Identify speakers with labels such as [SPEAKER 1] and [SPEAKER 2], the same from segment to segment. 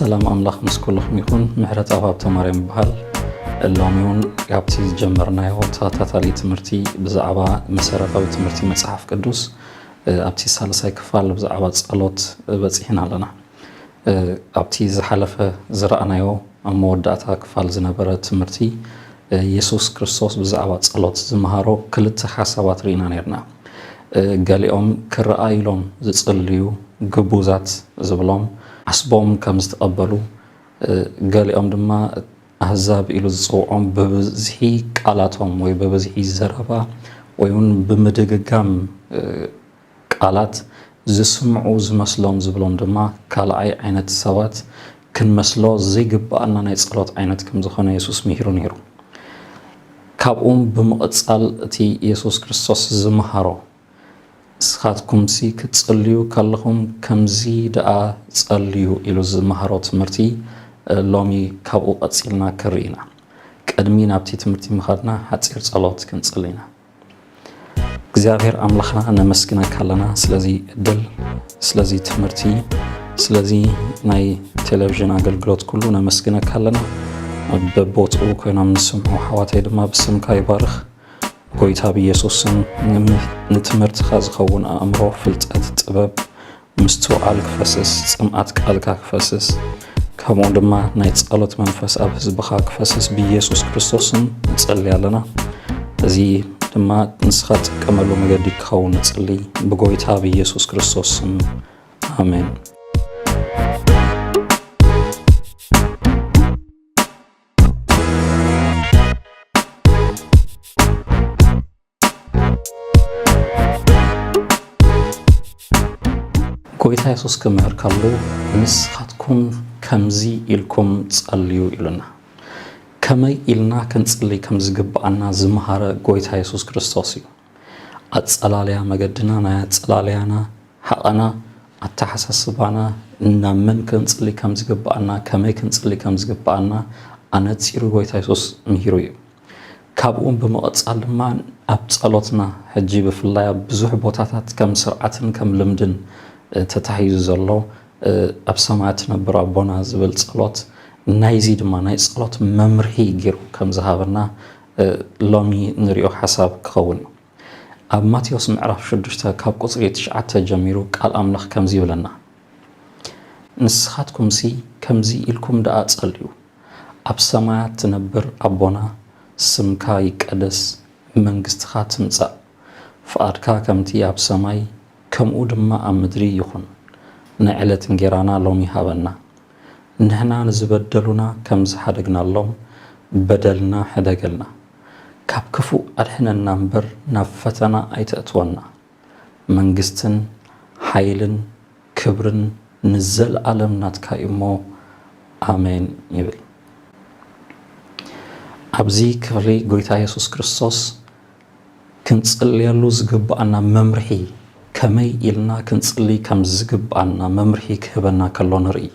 [SPEAKER 1] ሰላም ኣምላኽ ምስ ኩልኹም ይኹን ምሕረት ኣብ ሃብተ ማርያም ይበሃል ሎሚ እውን ካብቲ ዝጀመርናዮ ተኸታታሊ ትምህርቲ ብዛዕባ መሰረታዊ ትምህርቲ መፅሓፍ ቅዱስ ኣብቲ ሳልሳይ ክፋል ብዛዕባ ጸሎት በጺሕና ኣለና። ኣብቲ ዝሓለፈ ዝረኣናዮ ኣብ መወዳእታ ክፋል ዝነበረ ትምህርቲ የሱስ ክርስቶስ ብዛዕባ ጸሎት ዝመሃሮ ክልተ ሓሳባት ርኢና ኔርና። ገሊኦም ክረኣዩሎም ዝጽልዩ ግቡዛት ዝብሎም ዓስቦም ከም ዝተቐበሉ ገሊኦም ድማ ኣህዛብ ኢሉ ዝጸውዖም ብብዝሒ ቃላቶም ወይ ብብዝሒ ዘረባ ወይ እውን ብምድግጋም ቃላት ዝስምዑ ዝመስሎም ዝብሎም ድማ ካልኣይ ዓይነት ሰባት ክንመስሎ ዘይግብኣና ናይ ጸሎት ዓይነት ከም ዝኾነ የሱስ ምሂሩ ነይሩ። ካብኡም ብምቕጻል እቲ የሱስ ክርስቶስ ዝመሃሮ ንስኻትኩምሲ ክትጽልዩ ከለኹም ከምዚ ደኣ ጸልዩ ኢሉ ዝመሃሮ ትምህርቲ ሎሚ ካብኡ ቀጺልና ክንርኢ ኢና። ቅድሚ ናብቲ ትምህርቲ ምኻድና ሓጺር ጸሎት ክንጽሊ ኢና። እግዚኣብሔር ኣምላኽና ነመስግነካ ኣለና ስለዚ እድል ስለዚ ትምህርቲ ስለዚ ናይ ቴሌቪዥን ኣገልግሎት ኩሉ ነመስግነካ ኣለና። በቦትኡ ኮይኖም ንስምዑ ኣሕዋተይ ድማ ብስምካ ይባርኽ። ጎይታ ብየሱስ ስም ንትምህርትካ ዝከውን ኣእምሮ ፍልጠት ጥበብ ምስትውዓል ክፈስስ ጽምኣት ቃልካ ክፈስስ ከምኡ ድማ ናይ ጸሎት መንፈስ ኣብ ህዝብካ ክፈስስ ብየሱስ ክርስቶስ ስም ንጸልይ ኣለና እዚ ድማ ንስካ ትጥቀመሉ መገዲ ክኸውን ንጽልይ ብጎይታ ብየሱስ ክርስቶስ ስም ኣሜን ጎይታ የሱስ ክምህር ከሉ ንስኻትኩም ከምዚ ኢልኩም ጸልዩ ኢሉና። ከመይ ኢልና ክንጽሊ ከም ዝግብኣና ዝመሃረ ጎይታ የሱስ ክርስቶስ እዩ። ኣጸላልያ መገድና ናይ ኣጸላልያና ሓቐና ኣተሓሳስባና ናብ መን ክንጽሊ ከም ዝግብኣና ከመይ ክንጽሊ ከም ዝግብኣና ኣነጺሩ ጎይታ የሱስ ምሂሩ እዩ ካብኡም ብምቕጻል ድማ ኣብ ጸሎትና ሕጂ ብፍላይ ኣብ ብዙሕ ቦታታት ከም ስርዓትን ከም ልምድን ተታሒዙ ዘሎ ኣብ ሰማያት ትነብር ኣቦና ዝብል ጸሎት ናይዚ ድማ ናይ ጸሎት መምርሂ ጌሩ ከም ዝሃበና ሎሚ ንሪኦ ሓሳብ ክኸውን ኣብ ማቴዎስ ምዕራፍ ሽዱሽተ ካብ ቁጽሪ ትሽዓተ ጀሚሩ ቃል ኣምላኽ ከምዚ ይብለና ንስኻትኩምሲ ከምዚ ኢልኩም ደኣ ጸልዩ ኣብ ሰማያት ትነብር ኣቦና ስምካ ይቀደስ መንግስትኻ ትምጻእ ፍቓድካ ከምቲ ኣብ ሰማይ ከምኡ ድማ ኣብ ምድሪ ይኹን ናይ ዕለት እንጌራና ሎሚ ሃበና ንሕና ንዝበደሉና ከም ዝሓደግናሎም በደልና ሕደገልና። ካብ ክፉእ ኣድሕነና እምበር ናብ ፈተና ኣይተእትወና። መንግስትን ሓይልን ክብርን ንዘልኣለም ናትካ እዩ እሞ ኣሜን ይብል። ኣብዚ ክፍሊ ጎይታ የሱስ ክርስቶስ ክንጽልየሉ ዝግብኣና መምርሒ፣ ከመይ ኢልና ክንጽሊ ከም ዝግብኣና መምርሒ ክህበና ከሎ ንርኢ።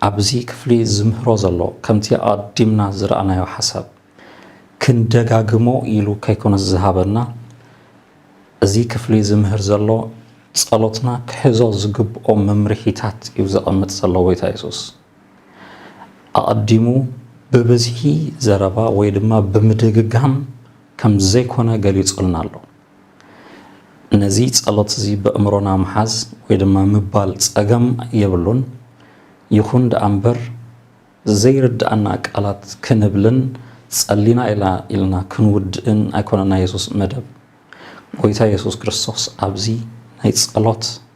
[SPEAKER 1] ኣብዚ ክፍሊ ዝምህሮ ዘሎ፣ ከምቲ ኣቐዲምና ዝረኣናዮ ሓሳብ፣ ክንደጋግሞ ኢሉ ከይኮነስ ዝሃበና፣ እዚ ክፍሊ ዝምህር ዘሎ፣ ጸሎትና ክሕዞ ዝግብኦ መምርሒታት እዩ ዘቐምጥ ዘሎ ጐይታ የሱስ። ኣቐዲሙ ብብዝሒ ዘረባ ወይ ድማ ብምድግጋም ከም ዘይኮነ ገሊጹልና ኣሎ። ነዚ ጸሎት እዚ በእምሮና ምሓዝ ወይ ድማ ምባል ጸገም የብሉን። ይኹን ደኣ እምበር ዘይርድኣና ቃላት ክንብልን ጸሊና ኢላ ኢልና ክንውድእን ኣይኮነን ናይ የሱስ መደብ። ጎይታ የሱስ ክርስቶስ ኣብዚ ናይ ጸሎት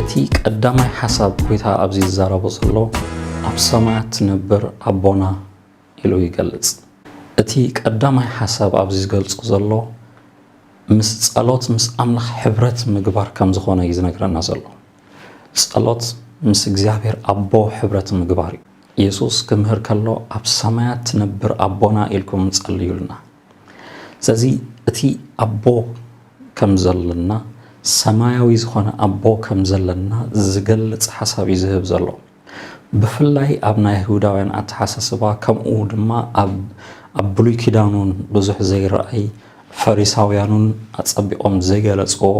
[SPEAKER 1] እቲ ቀዳማይ ሓሳብ ጎይታ ኣብዚ ዝዛረቦ ዘሎ ኣብ ሰማያት ትነብር ኣቦና ኢሉ ይገልጽ። እቲ ቀዳማይ ሓሳብ ኣብዚ ዝገልጾ ዘሎ ምስ ጸሎት ምስ ኣምላኽ ሕብረት ምግባር ከም ዝኾነ እዩ ዝነግረና ዘሎ። ጸሎት ምስ እግዚኣብሔር ኣቦ ሕብረት ምግባር እዩ። የሱስ ክምህር ከሎ ኣብ ሰማያት ትነብር ኣቦና ኢልኩም ጸልዩልና። ስለዚ እቲ ኣቦ ከም ዘለና ሰማያዊ ዝኾነ ኣቦ ከም ዘለና ዝገልጽ ሓሳብ እዩ ዝህብ ዘሎ ብፍላይ ኣብ ናይ ይሁዳውያን ኣተሓሳስባ ከምኡ ድማ ኣብ ብሉይ ኪዳኑን ብዙሕ ዘይረኣይ ፈሪሳውያኑን ኣጸቢቖም ዘይገለጽዎ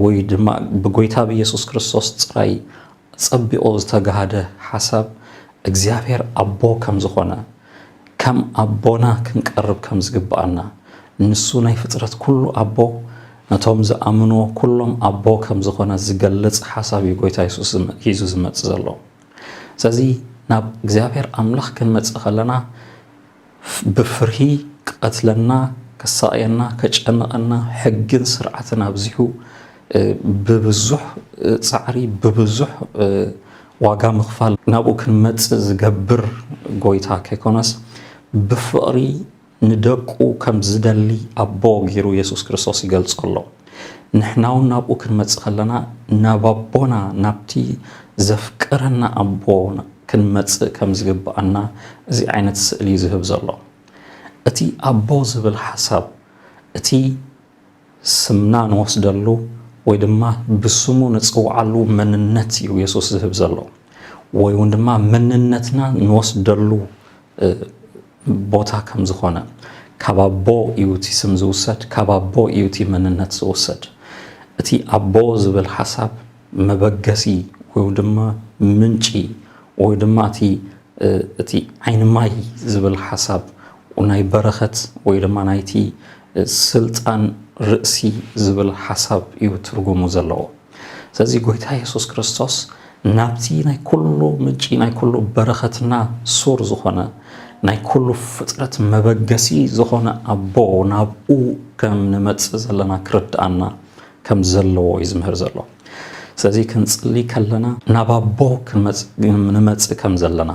[SPEAKER 1] ወይ ድማ ብጎይታ ብኢየሱስ ክርስቶስ ጥራይ ኣጸቢቑ ዝተጋህደ ሓሳብ እግዚኣብሔር ኣቦ ከም ዝኾነ፣ ከም ኣቦና ክንቀርብ ከም ዝግብኣና፣ ንሱ ናይ ፍጥረት ኩሉ ኣቦ፣ ነቶም ዝኣምንዎ ኩሎም ኣቦ ከም ዝኾነ ዝገልጽ ሓሳብ እዩ ጎይታ የሱስ ሒዙ ዝመጽእ ዘሎ። ስለዚ ናብ እግዚኣብሔር ኣምላኽ ክንመጽእ ከለና፣ ብፍርሂ ክቐትለና፣ ከሳቕየና፣ ከጨንቐና፣ ሕግን ስርዓትን ኣብዚሑ ብብዙሕ ጻዕሪ ብብዙሕ ዋጋ ምኽፋል ናብኡ ክንመጽእ ዝገብር ጎይታ ከይኮነስ ብፍቕሪ ንደቁ ከም ዝደሊ ኣቦ ገይሩ የሱስ ክርስቶስ ይገልጾ ኣሎ። ንሕናውን ናብኡ ክንመጽእ ከለና ናብ ኣቦና ናብቲ ዘፍቅረና ኣቦ ክንመጽእ ከም ዝግብኣና እዚ ዓይነት ስእሊ እዩ ዝህብ ዘሎ። እቲ ኣቦ ዝብል ሓሳብ እቲ ስምና ንወስደሉ ወይ ድማ ብስሙ ንጽውዓሉ መንነት እዩ የሱስ ዝህብ ዘሎ ወይ እውን ድማ መንነትና ንወስደሉ ቦታ ከም ዝኾነ ካብ ኣቦ እዩ እቲ ስም ዝውሰድ፣ ካብ ኣቦ እዩ እቲ መንነት ዝውሰድ። እቲ ኣቦ ዝብል ሓሳብ መበገሲ ወይ ድማ ምንጪ ወይ ድማ እቲ እቲ ዓይኒ ማይ ዝብል ሓሳብ ናይ በረኸት ወይ ድማ ናይቲ ስልጣን ርእሲ ዝብል ሓሳብ እዩ ትርጉሙ ዘለዎ። ስለዚ ጎይታ የሱስ ክርስቶስ ናብቲ ናይ ኩሉ ምንጪ ናይ ኩሉ በረኸትና ሱር ዝኾነ ናይ ኩሉ ፍጥረት መበገሲ ዝኾነ ኣቦ ናብኡ ከም ንመጽእ ዘለና ክርድኣና ከም ዘለዎ እዩ ዝምህር ዘሎ ስለዚ ክንጽሊ ከለና ናብ ኣቦ ክንመጽእ ንመጽእ ከም ዘለና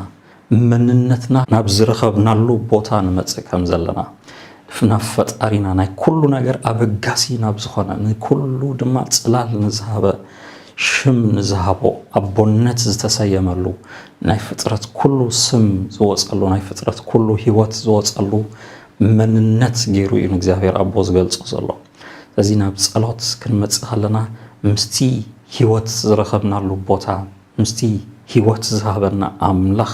[SPEAKER 1] መንነትና ናብ ዝረኸብናሉ ቦታ ንመጽእ ከም ዘለና፣ ናብ ፈጣሪና፣ ናይ ኩሉ ነገር ኣበጋሲ ናብ ዝኾነ፣ ንኩሉ ድማ ጽላል ንዝሃበ፣ ሽም ንዝሃቦ፣ ኣቦነት ዝተሰየመሉ፣ ናይ ፍጥረት ኩሉ ስም ዝወጸሉ፣ ናይ ፍጥረት ኩሉ ህይወት ዝወጸሉ መንነት ገይሩ እዩ ንእግዚኣብሔር ኣቦ ዝገልጾ ዘሎ። ስለዚ ናብ ጸሎት ክንመጽእ ከለና ምስቲ ህይወት ዝረኸብናሉ ቦታ፣ ምስቲ ህይወት ዝሃበና ኣምላኽ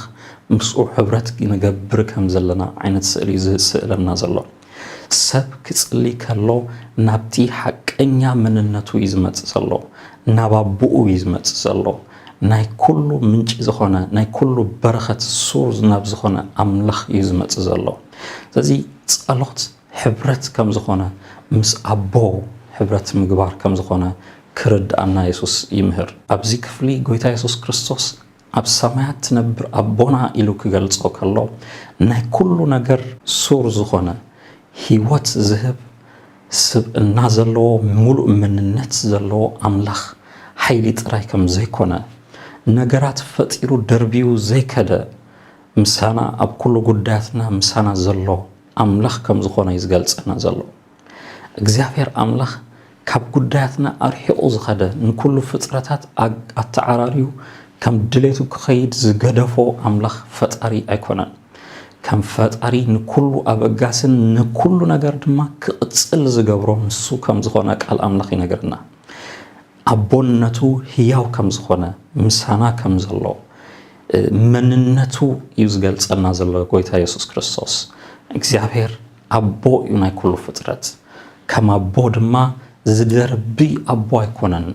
[SPEAKER 1] ምስኡ ሕብረት ንገብር ከም ዘለና ዓይነት ስእሊ እዩ ዝስእለና ዘሎ። ሰብ ክጽሊ ከሎ ናብቲ ሓቀኛ መንነቱ እዩ ዝመጽእ ዘሎ፣ ናብ ኣቦኡ እዩ ዝመጽእ ዘሎ። ናይ ኩሉ ምንጪ ዝኾነ ናይ ኩሉ በረኸት ሱር ናብ ዝኾነ ኣምላኽ እዩ ዝመጽእ ዘሎ። ስለዚ ጸሎት ሕብረት ከም ዝኾነ ምስ ኣቦ ሕብረት ምግባር ከም ዝኾነ ክርድኣና የሱስ ይምህር። ኣብዚ ክፍሊ ጎይታ የሱስ ክርስቶስ ኣብ ሰማያት ትነብር ኣቦና ኢሉ ክገልጾ ከሎ ናይ ኩሉ ነገር ሱር ዝኾነ ህይወት ዝህብ ስብእና ዘለዎ ምሉእ መንነት ዘለዎ ኣምላኽ ሓይሊ ጥራይ ከም ዘይኮነ ነገራት ፈጢሩ ደርብዩ ዘይከደ ምሳና ኣብ ኩሉ ጉዳያትና ምሳና ዘሎ ኣምላኽ ከም ዝኾነ እዩ ዝገልጸና ዘሎ። እግዚኣብሔር ኣምላኽ ካብ ጉዳያትና ኣርሒቑ ዝኸደ ንኩሉ ፍጥረታት ኣተዓራርዩ ከም ድሌቱ ክኸይድ ዝገደፎ ኣምላኽ ፈጣሪ ኣይኮነን። ከም ፈጣሪ ንኩሉ ኣበጋስን ንኩሉ ነገር ድማ ክቕጽል ዝገብሮ ንሱ ከም ዝኾነ ቃል ኣምላኽ ይነግረና። ኣቦነቱ ህያው ከም ዝኾነ ምሳና ከም ዘሎ መንነቱ እዩ ዝገልጸና ዘሎ ጎይታ የሱስ ክርስቶስ እግዚኣብሔር ኣቦ እዩ ናይ ኩሉ ፍጥረት ከም ኣቦ ድማ ዝደርቢ ኣቦ ኣይኮነን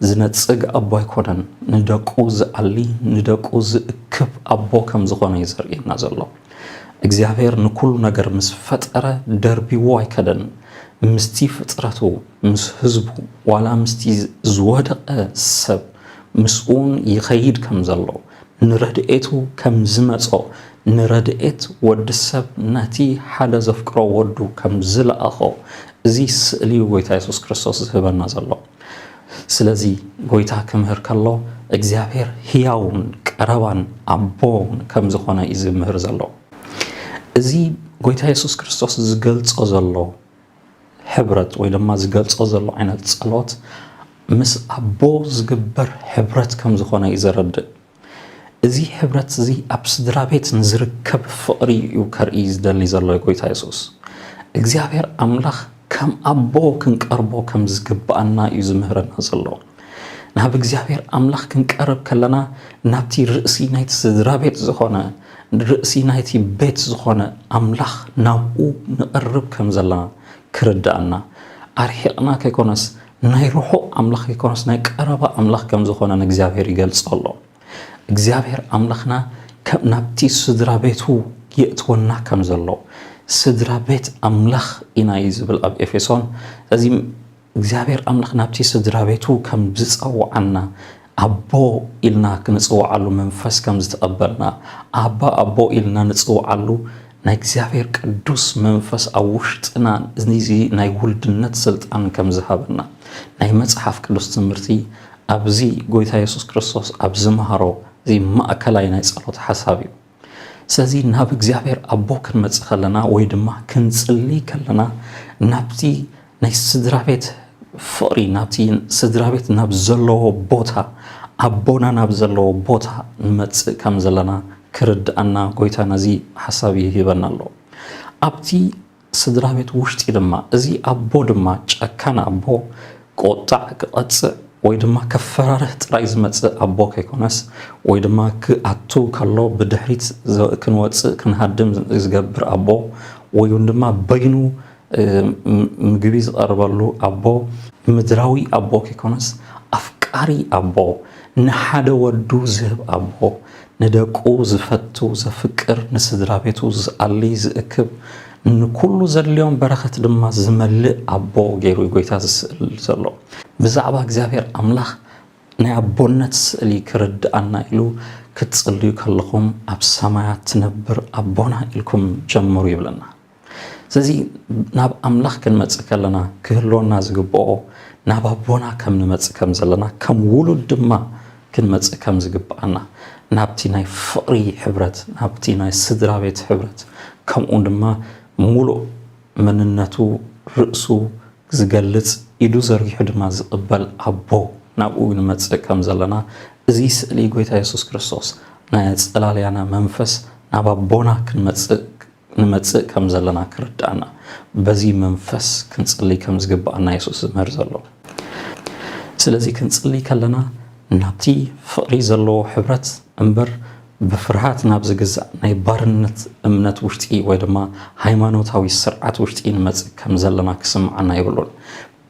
[SPEAKER 1] ዝነጽግ ኣቦ ኣይኮነን ንደቁ ዝኣሊ ንደቁ ዝእክብ ኣቦ ከም ዝኾነ እዩ ዘርእየና ዘሎ እግዚኣብሔር ንኩሉ ነገር ምስ ፈጠረ ደርቢዎ ኣይከደን ምስቲ ፍጥረቱ ምስ ህዝቡ ዋላ ምስቲ ዝወደቀ ሰብ ምስኡውን ይኸይድ ከም ዘሎ ንረድኤቱ ከም ዝመጾ ንረድኤት ወዲ ሰብ ነቲ ሓደ ዘፍቅሮ ወዱ ከም ዝለኣኾ እዚ ስእሊ እዩ ጎይታ የሱስ ክርስቶስ ዝህበና ዘሎ። ስለዚ ጎይታ ክምህር ከሎ እግዚኣብሔር ህያውን ቀረባን ኣቦን ከም ዝኾነ እዩ ዝምህር ዘሎ። እዚ ጎይታ የሱስ ክርስቶስ ዝገልጾ ዘሎ ሕብረት ወይ ድማ ዝገልጾ ዘሎ ዓይነት ጸሎት ምስ ኣቦ ዝግበር ሕብረት ከም ዝኾነ እዩ ዘረድእ። እዚ ሕብረት እዚ ኣብ ስድራ ቤት ንዝርከብ ፍቕሪ እዩ ከርኢ ዝደሊ ዘሎ ጎይታ የሱስ። እግዚኣብሔር ኣምላኽ ከም ኣቦ ክንቀርቦ ከም ዝግብኣና እዩ ዝምህረና ዘሎ። ናብ እግዚኣብሔር ኣምላኽ ክንቀርብ ከለና ናብቲ ርእሲ ናይቲ ስድራ ቤት ዝኾነ ርእሲ ናይቲ ቤት ዝኾነ ኣምላኽ ናብኡ ንቐርብ ከም ዘለና ክርድኣና ኣርሒቕና ከይኮነስ ናይ ርሑቕ ኣምላኽ ከይኮነስ ናይ ቀረባ ኣምላኽ ከም ዝኾነ ንእግዚኣብሔር ይገልጾ ኣሎ እግዚኣብሔር ኣምላኽና ናብቲ ስድራ ቤቱ የእትወና ከም ዘሎ ስድራ ቤት ኣምላኽ ኢና እዩ ዝብል ኣብ ኤፌሶን እዚ እግዚኣብሔር ኣምላኽ ናብቲ ስድራቤቱ ከም ዝጸውዓና ኣቦ ኢልና ክንጽውዓሉ መንፈስ ከም ዝተቐበልና ኣባ ኣቦ ኢልና ንጽውዓሉ ናይ እግዚኣብሔር ቅዱስ መንፈስ ኣብ ውሽጥና እዚ ናይ ውልድነት ስልጣን ከም ዝሃበና ናይ መጽሓፍ ቅዱስ ትምህርቲ ኣብዚ ጎይታ የሱስ ክርስቶስ ኣብ ዝመሃሮ እዚ ማእከላይ ናይ ጸሎት ሓሳብ እዩ። ስለዚ ናብ እግዚኣብሔር ኣቦ ክንመጽእ ከለና ወይ ድማ ክንጽሊ ከለና ናብቲ ናይ ስድራ ቤት ፍቕሪ ናብቲ ስድራ ቤት ናብ ዘለዎ ቦታ ኣቦና ናብ ዘለዎ ቦታ ንመጽእ ከም ዘለና ክርድኣና ጎይታ ነዚ ሓሳብ ይህበና ኣሎ ኣብቲ ስድራቤት ውሽጢ ድማ እዚ ኣቦ ድማ ጨካን ኣቦ ቆጣዕ ክቀጽዕ ወይ ድማ ከፈራርህ ጥራይ ዝመጽእ ኣቦ ከይኮነስ ወይ ድማ ክኣቱ ከሎ ብድሕሪት ክንወጽእ ክንሃድም ዝገብር ኣቦ ወይ ውን ድማ በይኑ ምግቢ ዝቀርበሉ ኣቦ ምድራዊ ኣቦ ከይኮነስ ኣፍቃሪ ኣቦ ንሓደ ወዱ ዝህብ ኣቦ ንደቁ ዝፈቱ ዘፍቅር ንስድራቤቱ ዝኣሊ ዝእክብ ንኩሉ ዘድልዮም በረኸት ድማ ዝመልእ ኣቦ ገይሩ እዩ ጎይታ ዝስእል ዘሎ ብዛዕባ እግዚኣብሔር ኣምላኽ ናይ ኣቦነት ስእሊ ክርድኣና ኢሉ ክትጽልዩ ከለኹም ኣብ ሰማያት ትነብር ኣቦና ኢልኩም ጀምሩ ይብለና። ስለዚ ናብ ኣምላኽ ክንመጽእ ከለና ክህልወና ዝግብኦ ናብ ኣቦና ከም ንመጽእ ከም ዘለና ከም ውሉድ ድማ ክንመጽእ ከም ዝግብኣና ናብቲ ናይ ፍቕሪ ሕብረት ናብቲ ናይ ስድራ ቤት ሕብረት ከምኡ ድማ ሙሉእ መንነቱ ርእሱ ዝገልጽ ኢዱ ዘርጊሑ ድማ ዝቕበል ኣቦ ናብኡ ንመጽእ ከም ዘለና እዚ ስእሊ ጎይታ የሱስ ክርስቶስ ናይ ኣጸላልያና መንፈስ ናብ ኣቦና ክንመጽእ ንመጽእ ከም ዘለና ክርድኣና በዚ መንፈስ ክንጽሊ ከም ዝግብኣና የሱስ ዝምህር ዘሎ። ስለዚ ክንጽሊ ከለና ናብቲ ፍቕሪ ዘለዎ ሕብረት እምበር ብፍርሃት ናብ ዝግዛእ ናይ ባርነት እምነት ውሽጢ ወይ ድማ ሃይማኖታዊ ስርዓት ውሽጢ ንመጽእ ከም ዘለና ክስምዓና የብሉን።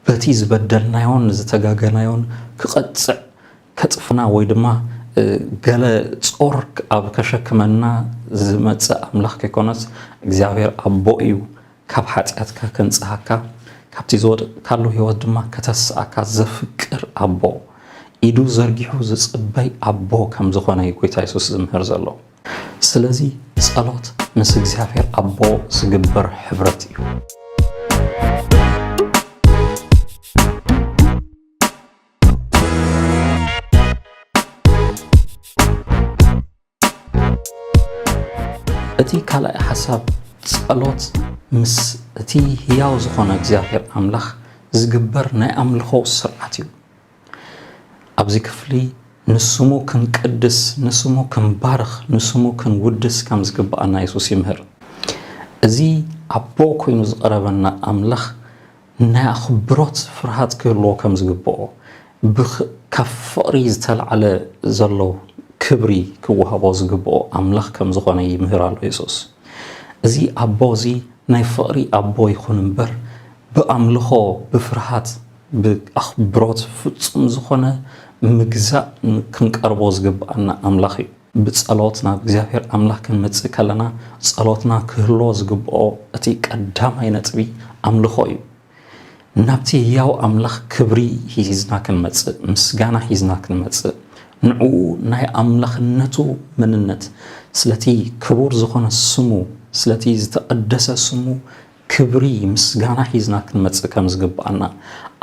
[SPEAKER 1] በቲ ዝበደልናዮን ዝተጋገናዮን ክቐጽዕ ከጽፍና ወይ ድማ ገለ ጾር ኣብ ከሸክመና ዝመጽእ ኣምላኽ ከይኮነስ እግዚኣብሔር ኣቦ እዩ ካብ ሓጢኣትካ ከንጽሃካ ካብቲ ዝወደቅካሉ ህይወት ድማ ከተስኣካ ዘፍቅር ኣቦ ኢዱ ዘርጊሑ ዝጽበይ ኣቦ ከም ዝኾነ እዩ ጎይታ የሱስ ዝምህር ዘሎ ስለዚ ጸሎት ምስ እግዚኣብሔር ኣቦ ዝግበር ሕብረት እዩ እቲ ካልኣይ ሓሳብ ጸሎት ምስ እቲ ህያው ዝኾነ እግዚኣብሔር ኣምላኽ ዝግበር ናይ ኣምልኾ ስርዓት እዩ ኣብዚ ክፍሊ ንስሙ ክንቅድስ ንስሙ ክንባርኽ ንስሙ ክንውድስ ከም ዝግብኣና የሱስ ይምህር እዚ ኣቦ ኮይኑ ዝቐረበና ኣምላኽ ናይ ኣኽብሮት ፍርሃት ክህልዎ ከም ዝግብኦ፣ ካብ ፍቕሪ ዝተላዕለ ዘሎ ክብሪ ክወሃቦ ዝግብኦ ኣምላኽ ከም ዝኾነ ይምህር ኣሎ የሱስ። እዚ ኣቦ እዚ ናይ ፍቕሪ ኣቦ ይኹን እምበር፣ ብኣምልኾ ብፍርሃት ብኣኽብሮት ፍጹም ዝኾነ ምግዛእ ክንቀርቦ ዝግብኣና ኣምላኽ እዩ። ብጸሎት ናብ እግዚኣብሔር ኣምላኽ ክንመጽእ ከለና ጸሎትና ክህልዎ ዝግብኦ እቲ ቀዳማይ ነጥቢ ኣምልኾ እዩ። ናብቲ ህያው ኣምላኽ ክብሪ ሂዝና ክንመጽእ፣ ምስጋና ሂዝና ክንመጽእ፣ ንዕኡ ናይ ኣምላኽነቱ መንነት፣ ስለቲ ክቡር ዝኾነ ስሙ፣ ስለቲ ዝተቐደሰ ስሙ ክብሪ ምስጋና ሒዝና ክንመጽእ ከም ዝግብኣና፣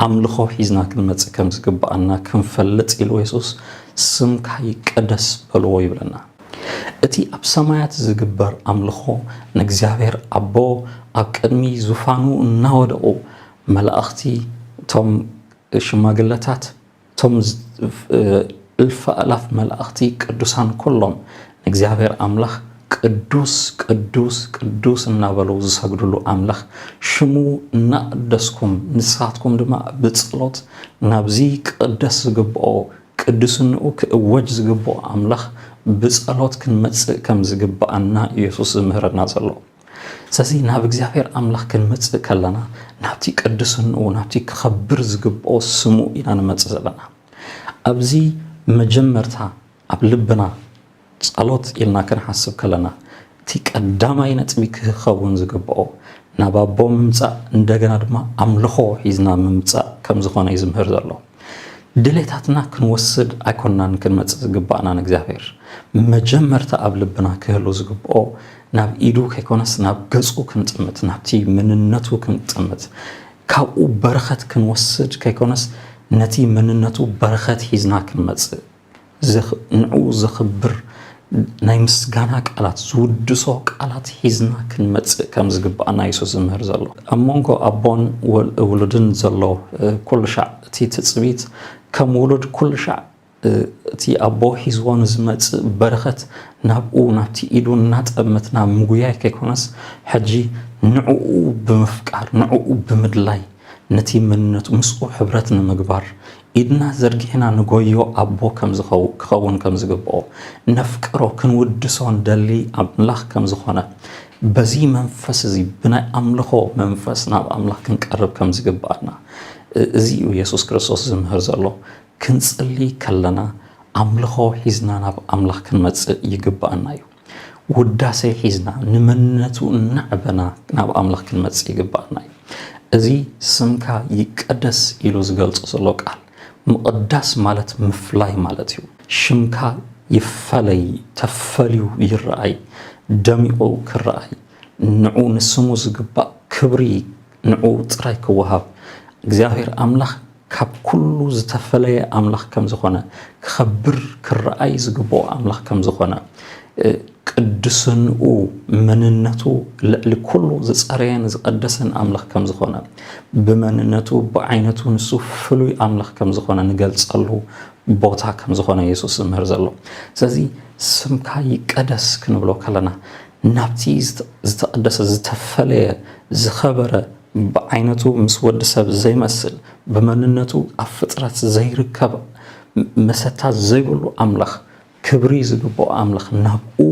[SPEAKER 1] ኣምልኾ ሒዝና ክንመጽእ ከም ዝግብኣና ክንፈልጥ ኢሉ የሱስ ስምካ ይቀደስ በልዎ ይብለና። እቲ ኣብ ሰማያት ዝግበር ኣምልኾ ንእግዚኣብሔር ኣቦ ኣብ ቅድሚ ዙፋኑ እናወደቑ መላእኽቲ እቶም ሽማግለታት፣ እቶም እልፊ ኣእላፍ መላእኽቲ ቅዱሳን ኩሎም ንእግዚኣብሔር ኣምላኽ ቅዱስ ቅዱስ ቅዱስ እናበሉ ዝሰግድሉ ኣምላኽ ሽሙ እናቐደስኩም ንሳትኩም ድማ ብጸሎት ናብዚ ክቕደስ ዝግብኦ ቅዱስንኡ ክእወጅ ዝግብኦ ኣምላኽ ብጸሎት ክንመጽእ ከም ዝግብኣና ኢየሱስ ዝምህረና ዘሎ። ስለዚ ናብ እግዚኣብሔር ኣምላኽ ክንመጽእ ከለና ናብቲ ቅድስንኡ ናብቲ ክኸብር ዝግብኦ ስሙ ኢና ንመጽእ ዘለና ኣብዚ መጀመርታ ኣብ ልብና ጸሎት ኢልና ክንሓስብ ከለና እቲ ቀዳማይ ነጥቢ ክኸውን ዝግብኦ ናብ ኣቦ ምምጻእ እንደገና ድማ ኣምልኾ ሒዝና ምምጻእ ከም ዝኾነ እዩ ዝምህር ዘሎ ድሌታትና ክንወስድ ኣይኮናን ክንመጽእ ዝግባእና ንእግዚኣብሔር መጀመርታ ኣብ ልብና ክህሉ ዝግብኦ ናብ ኢዱ ከይኮነስ ናብ ገጹ ክንጥምት ናብቲ መንነቱ ክንጥምት ካብኡ በረኸት ክንወስድ ከይኮነስ ነቲ መንነቱ በረኸት ሒዝና ክንመጽእ ንዕኡ ዘኽብር ናይ ምስጋና ቃላት ዝውድሶ ቃላት ሒዝና ክንመጽእ ከም ዝግባኣና የሱስ ዝምህር ዘሎ ኣብ መንጎ ኣቦን ውሉድን ዘሎ ኩሉ ሻዕ እቲ ትጽቢት ከም ውሉድ ኩሉ ሻዕ እቲ ኣቦ ሒዝዎ ንዝመጽእ በረኸት ናብኡ ናብቲ ኢዱ እናጠመትና ምጉያይ ከይኮነስ ሕጂ ንዕኡ ብምፍቃር ንዕኡ ብምድላይ ነቲ መንነቱ ምስኡ ሕብረት ንምግባር ኢድና ዘርጊሕና ንጎዮ ኣቦ ከምዝኸው ክኸውን ከምዝግብኦ ነፍቅሮ ክንውድሶ ንደሊ ኣምላኽ ከምዝኾነ በዚ መንፈስ እዚ ብናይ ኣምልኾ መንፈስ ናብ ኣምላኽ ክንቀርብ ከምዝግብኣና እዚ እዩ የሱስ ክርስቶስ ዝምህር ዘሎ ክንጽሊ ከለና ኣምልኾ ሒዝና ናብ ኣምላኽ ክንመጽእ ይግብኣና እዩ ውዳሴ ሒዝና ንመንነቱ እናዕበና ናብ ኣምላኽ ክንመጽእ ይግብኣና እዩ። እዚ ስምካ ይቀደስ ኢሉ ዝገልጾ ዘሎ ቃል ምቕዳስ ማለት ምፍላይ ማለት እዩ። ሽምካ ይፈለይ፣ ተፈልዩ ይረኣይ፣ ደሚቑ ክረኣይ፣ ንዑ ንስሙ ዝግባእ ክብሪ ንዕኡ ጥራይ ክወሃብ እግዚኣብሔር ኣምላኽ ካብ ኩሉ ዝተፈለየ ኣምላኽ ከም ዝኾነ ክኸብር ክረኣይ ዝግብኦ ኣምላኽ ከም ዝኾነ ቅድስንኡ መንነቱ ልዕሊ ኩሉ ዝፀረየን ዝቐደሰን ኣምላኽ ከም ዝኾነ ብመንነቱ ብዓይነቱ ንሱ ፍሉይ ኣምላኽ ከም ዝኾነ ንገልፀሉ ቦታ ከም ዝኾነ የሱስ ዝምህር ዘሎ ስለዚ ስምካ ይቀደስ ክንብሎ ከለና ናብቲ ዝተቐደሰ ዝተፈለየ ዝኸበረ ብዓይነቱ ምስ ወዲ ሰብ ዘይመስል ብመንነቱ ኣብ ፍጥረት ዘይርከብ መሰታ ዘይብሉ ኣምላኽ ክብሪ ዝግብኦ ኣምላኽ ናብኡ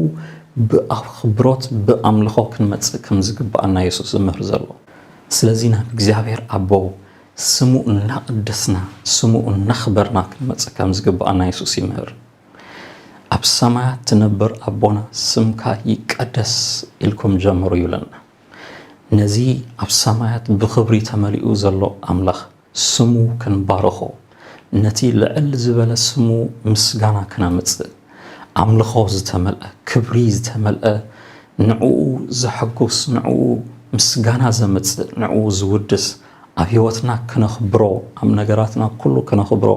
[SPEAKER 1] ብኣኽብሮት ብኣምልኾ ክንመጽእ ከም ዝግብኣና የሱስ ዝምህር ዘሎ ስለዚ ናብ እግዚኣብሔር ኣቦ ስሙ እናቐደስና ስሙ እናኽበርና ክንመጽእ ከም ዝግብኣና የሱስ ይምህር ኣብ ሰማያት ትነብር ኣቦና ስምካ ይቀደስ ኢልኩም ጀምሩ ይብለና። ነዚ ኣብ ሰማያት ብኽብሪ ተመሊኡ ዘሎ ኣምላኽ ስሙ ክንባርኾ፣ ነቲ ልዕል ዝበለ ስሙ ምስጋና ክነምጽእ፣ ኣምልኾ ዝተመልአ፣ ክብሪ ዝተመልአ፣ ንዕኡ ዘሐጉስ፣ ንዕኡ ምስጋና ዘምጽእ፣ ንዕኡ ዝውድስ፣ ኣብ ሕይወትና ክነኽብሮ ኣብ ነገራትና ኩሉ ክነኽብሮ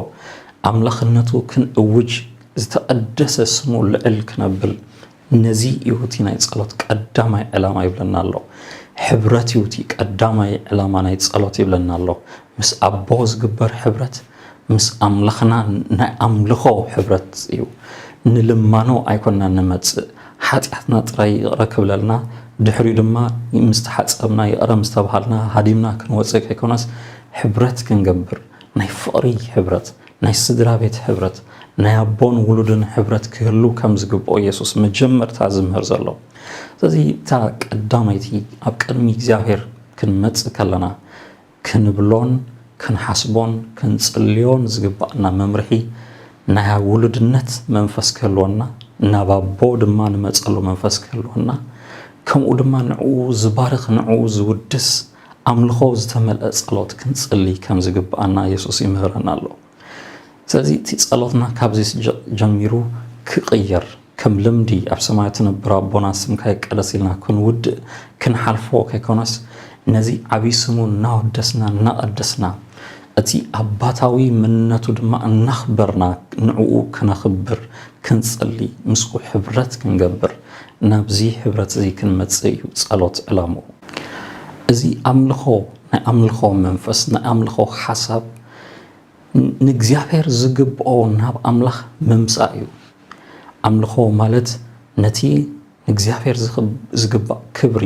[SPEAKER 1] ኣምላኽነቱ ክንእውጅ ዝተቐደሰ ስሙ ልዕል ክነብል ነዚ ይውቲ ናይ ጸሎት ቀዳማይ ዕላማ ይብለና ኣሎ ሕብረት ይውቲ ቀዳማይ ዕላማ ናይ ጸሎት ይብለና ኣሎ ምስ ኣቦ ዝግበር ሕብረት ምስ ኣምላኽና ናይ ኣምልኾ ሕብረት እዩ። ንልማኖ ኣይኮናን ንመጽእ፣ ሓጢኣትና ጥራይ ይቕረ ክብለልና፣ ድሕሪኡ ድማ ምስ ተሓጸብና ይቕረ ምስ ተባሃልና ሃዲምና ክንወጽእ ከይኮነስ ሕብረት ክንገብር፣ ናይ ፍቕሪ ሕብረት፣ ናይ ስድራቤት ሕብረት፣ ናይ ኣቦን ውሉድን ሕብረት ክህሉ ከም ዝግብኦ የሱስ መጀመርታ ዝምህር ዘሎ። ስለዚ እታ ቀዳመይቲ ኣብ ቅድሚ እግዚኣብሄር ክንመጽእ ከለና፣ ክንብሎን ክንሓስቦን ክንጽልዮን ዝግባእና መምርሒ ናይ ውሉድነት መንፈስ ክህልወና፣ ናብ ኣቦ ድማ ንመጸሉ መንፈስ ክህልወና፣ ከምኡ ድማ ንዕኡ ዝባርኽ ንዕኡ ዝውድስ ኣምልኾ ዝተመልአ ጸሎት ክንጽሊ ከም ዝግባኣና የሱስ ይምህረና ኣሎ። ስለዚ እቲ ጸሎትና ካብዚ ጀሚሩ ክቕየር ከም ልምዲ ኣብ ሰማያት ትነብር ኣቦና ስምካ ይቀደስ ኢልና ክንውድእ ክንሓልፎ ከይኮነስ ነዚ ዓብዪ ስሙ እናወደስና እናቐደስና እቲ ኣባታዊ መንነቱ ድማ እናኽበርና ንዕኡ ክነኽብር ክንጽሊ ምስኡ ሕብረት ክንገብር ናብዚ ሕብረት እዚ ክንመጽእ እዩ ጸሎት ዕላምኡ እዚ ኣምልኾ ናይ ኣምልኾ መንፈስ ናይ ኣምልኾ ሓሳብ ንእግዚኣብሔር ዝግብኦ ናብ ኣምላኽ ምምጻእ እዩ። ኣምልኾ ማለት ነቲ ንእግዚኣብሔር ዝግባእ ክብሪ፣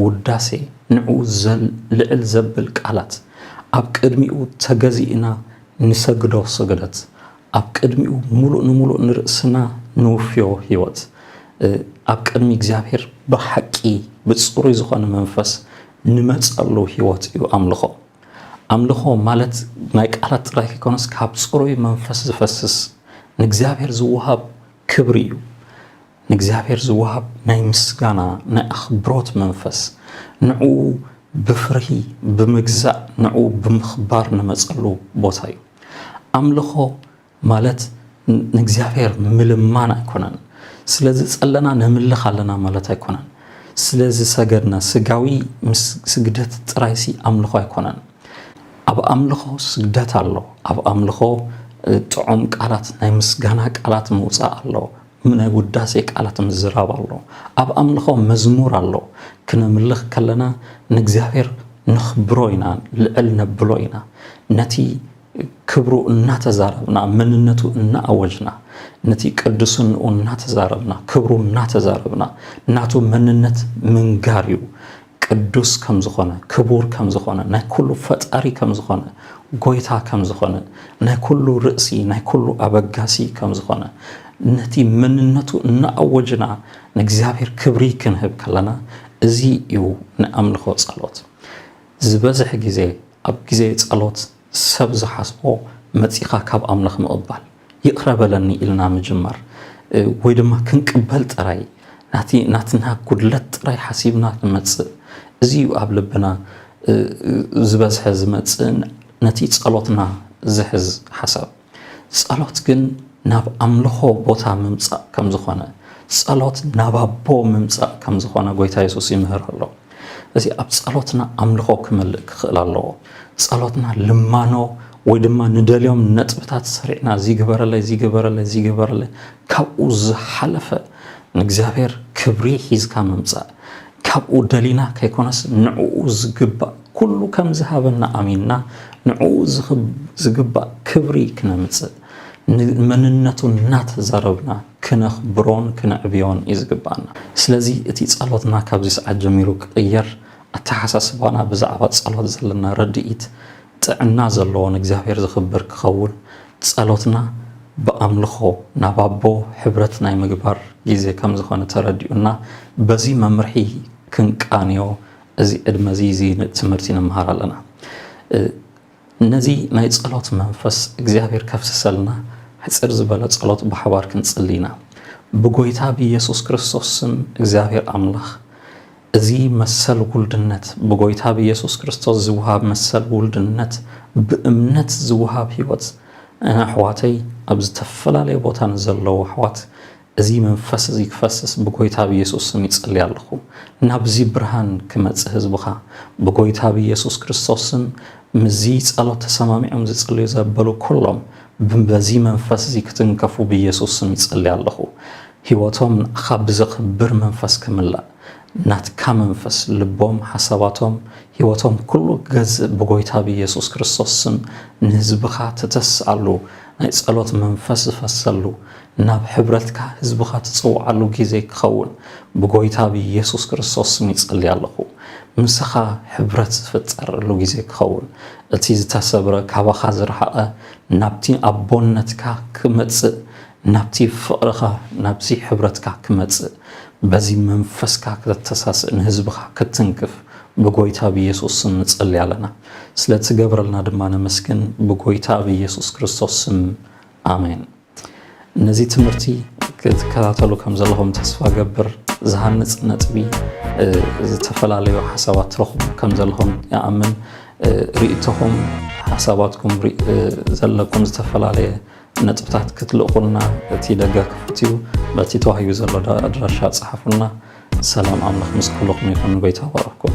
[SPEAKER 1] ውዳሴ፣ ንዕኡ ልዕል ዘብል ቃላት፣ ኣብ ቅድሚኡ ተገዚእና ንሰግዶ ስግደት፣ ኣብ ቅድሚኡ ምሉእ ንምሉእ ንርእስና ንውፍዮ ሕይወት፣ ኣብ ቅድሚ እግዚኣብሔር ብሓቂ ብጽሩይ ዝኾነ መንፈስ ንመጸሉ ሕይወት እዩ ኣምልኾ። ኣምልኾ ማለት ናይ ቃላት ጥራይ ከይኮነስ ካብ ጽሩይ መንፈስ ዝፈስስ ንእግዚኣብሔር ዝወሃብ ክብሪ እዩ። ንእግዚኣብሔር ዝወሃብ ናይ ምስጋና ናይ ኣኽብሮት መንፈስ ንዕኡ ብፍርሂ ብምግዛእ ንዕኡ ብምኽባር ንመጸሉ ቦታ እዩ። ኣምልኾ ማለት ንእግዚኣብሔር ምልማን ኣይኮነን። ስለ ዝጸለና ነምልኽ ኣለና ማለት ኣይኮነን። ስለ ዝሰገድና ስጋዊ ስግደት ጥራይሲ ኣምልኾ ኣይኮነን። ኣብ ኣምልኾ ስግደት ኣሎ። ኣብ ኣምልኾ ጥዑም ቃላት ናይ ምስጋና ቃላት ምውፃእ ኣሎ ናይ ውዳሴ ቃላት ምዝራብ ኣሎ ኣብ ኣምልኾ መዝሙር ኣሎ ክነምልኽ ከለና ንእግዚኣብሔር ነኽብሮ ኢና ልዕል ነብሎ ኢና ነቲ ክብሩ እናተዛረብና መንነቱ እናኣወጅና ነቲ ቅዱስንኡ እናተዛረብና ክብሩ እናተዛረብና ናቱ መንነት ምንጋር እዩ። ቅዱስ ከም ዝኾነ ክቡር ከም ዝኾነ ናይ ኩሉ ፈጣሪ ከም ዝኾነ ጎይታ ከም ዝኾነ ናይ ኩሉ ርእሲ ናይ ኩሉ ኣበጋሲ ከም ዝኾነ ነቲ መንነቱ እናኣወጅና ንእግዚኣብሔር ክብሪ ክንህብ ከለና እዚ እዩ ንኣምልኾ ጸሎት ዝበዝሕ ግዜ ኣብ ግዜ ጸሎት ሰብ ዝሓስቦ መጺኻ ካብ ኣምላኽ ምቕባል፣ ይቕረ በለኒ ኢልና ምጅማር ወይ ድማ ክንቅበል ጥራይ ናቲ ናትና ጉድለት ጥራይ ሓሲብና ክንመጽእ እዚ እዩ ኣብ ልብና ዝበዝሐ ዝመጽእን ነቲ ጸሎትና ዝሕዝ ሓሳብ። ጸሎት ግን ናብ ኣምልኾ ቦታ ምምጻእ ከም ዝኾነ፣ ጸሎት ናብ ኣቦ ምምጻእ ከም ዝኾነ ጎይታ የሱስ ይምህር ኣሎ። እዚ ኣብ ጸሎትና ኣምልኾ ክመልእ ክኽእል ኣለዎ። ጸሎትና ልማኖ ወይ ድማ ንደልዮም ነጥብታት ሰሪዕና እዚ ግበረለይ እዚ ግበረለይ እዚ ግበረለይ ካብኡ ዝሓለፈ ንእግዚኣብሔር ክብሪ ሒዝካ ምምጻእ ካብኡ ደሊና ከይኮነስ ንዕኡ ዝግባእ ኩሉ ከም ዝሃበና ኣሚንና ንዕኡ ዝግባእ ክብሪ ክነምጽእ ንመንነቱ እናተዛረብና ክነኽብሮን ክነዕብዮን እዩ ዝግባኣና። ስለዚ እቲ ጸሎትና ካብዚ ሰዓት ጀሚሩ ክቕየር፣ ኣተሓሳስባና ብዛዕባ ጸሎት ዘለና ርድኢት ጥዕና ዘለዎ ንእግዚኣብሔር ዝኽብር ክኸውን ጸሎትና ብኣምልኾ ናብ ኣቦ ሕብረት ናይ ምግባር ጊዜ ከም ዝኾነ ተረዲኡና በዚ መምርሒ ክንቃንዮ እዚ ዕድመ እዚ እዚ ትምህርቲ ንምሃር ኣለና። ነዚ ናይ ጸሎት መንፈስ እግዚኣብሔር ከፍስሰልና ሕጽር ዝበለ ጸሎት ብሓባር ክንጽሊ ኢና። ብጎይታ ብኢየሱስ ክርስቶስ ስም እግዚኣብሔር ኣምላኽ እዚ መሰል ውልድነት ብጎይታ ብየሱስ ክርስቶስ ዝውሃብ መሰል ውልድነት ብእምነት ዝውሃብ ሕይወት እነ ኣሕዋተይ ኣብ ዝተፈላለየ ቦታ ንዘለዉ ኣሕዋት እዚ መንፈስ እዚ ክፈስስ ብጎይታ ብየሱስ ስም ይጸሊ ኣለኹ ናብዚ ብርሃን ክመጽ ህዝብኻ ብጎይታ ብየሱስ ክርስቶስ ስም ምዚ ጸሎት ተሰማሚዖም ዝጽልዩ ዘበሉ ኩሎም ብበዚ መንፈስ እዚ ክትንከፉ ብየሱስ ስም ይጸሊ ኣለኹ ሂወቶም ንኣኻ ብዘኽብር መንፈስ ክምላእ ናትካ መንፈስ ልቦም ሓሳባቶም ሂወቶም ኩሉ ክገዝእ ብጎይታ ብየሱስ ክርስቶስ ስም ንህዝብኻ ትተስኣሉ ናይ ጸሎት መንፈስ ዝፈሰሉ ናብ ሕብረትካ ህዝብኻ ትጽውዓሉ ግዜ ክኸውን ብጎይታ ብየሱስ ክርስቶስ ስም ይጸሊ ኣለኹ ምሳኻ ሕብረት ዝፍጠረሉ ግዜ ክኸውን እቲ ዝተሰብረ ካባኻ ዝረሓቐ ናብቲ ኣቦነትካ ክመጽእ ናብቲ ፍቕርኻ ናብዚ ሕብረትካ ክመጽእ በዚ መንፈስካ ከተተሳስእ ንህዝብኻ ክትትንክፍ ብጎይታ ብየሱስ ስም ንጸሊ ኣለና ስለ ትገብረልና ድማ ነመስግን ብጎይታ ብየሱስ ክርስቶስ ስም ኣሜን ነዚ ትምህርቲ ክትከታተሉ ከም ዘለኹም ተስፋ ገብር ዝሃንጽ ነጥቢ ዝተፈላለዩ ሓሳባት ትረኽቡ ከም ዘለኹም ይኣምን ርእቶኹም ሓሳባትኩም ዘለኩም ዝተፈላለየ ነጥብታት ክትልእኹልና እቲ ደገ ክፉት እዩ። በቲ ተዋሂቡ ዘሎ ኣድራሻ ጸሓፉልና። ሰላም ኣምላኽ ምስ ኩልኹም ይኹን። ጎይታ ይባርኽኩም።